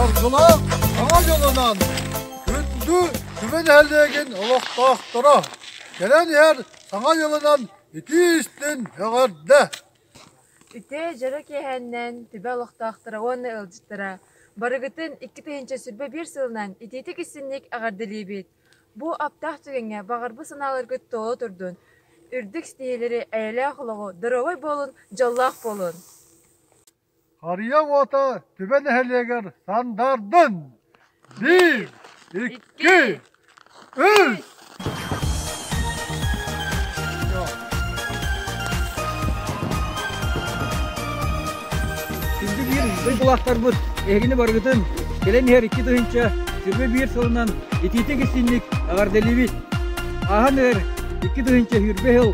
Аргылаах аҕа дьонунан күндү түбэ нэһилиэгин олохтоохторо кэлэн иһэр саҥа дьылынан итии истин эҕэрдэ Ити дьоро киэһэннэн түбэ олохтоохторо уонна ыалдьыттара барыгытын икки тыһыынча сүүрбэ биир сылынан итиитик истинник эҕэрдэлиибит Бу аптаах түгэҥҥэ баҕарбы санааларгыт тоҕо турдун, үрдүк ситиһиилэри, эйэлээх олоҕу, доруобай буолун, дьоллоох буолун! Харыйа уота Түбэ нэһилиэгэр сандаардын! Биир, икки, үс! Күндү биир дойдулаахтарбыт эһигини барыгытын кэлэн иһэр икки тыһыынча сирбэ биир сылынан итиитик истинник аҕарделибит. Ааһан эр икки тыһыынча сүүрбэ сыл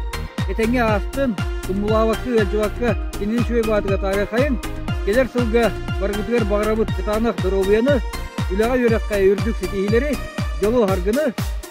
этэҥҥэ аастын, тумулаабакка, ыалдьыбакка кинини үчүгэй баатыга таарыахайын, кэлэр сылга барыгытыгар баҕарабыт кытаанах доруобуйаны, үлэҕэ-үөрэххэ үрдүк ситиһиилэри, дьолу, харгыны,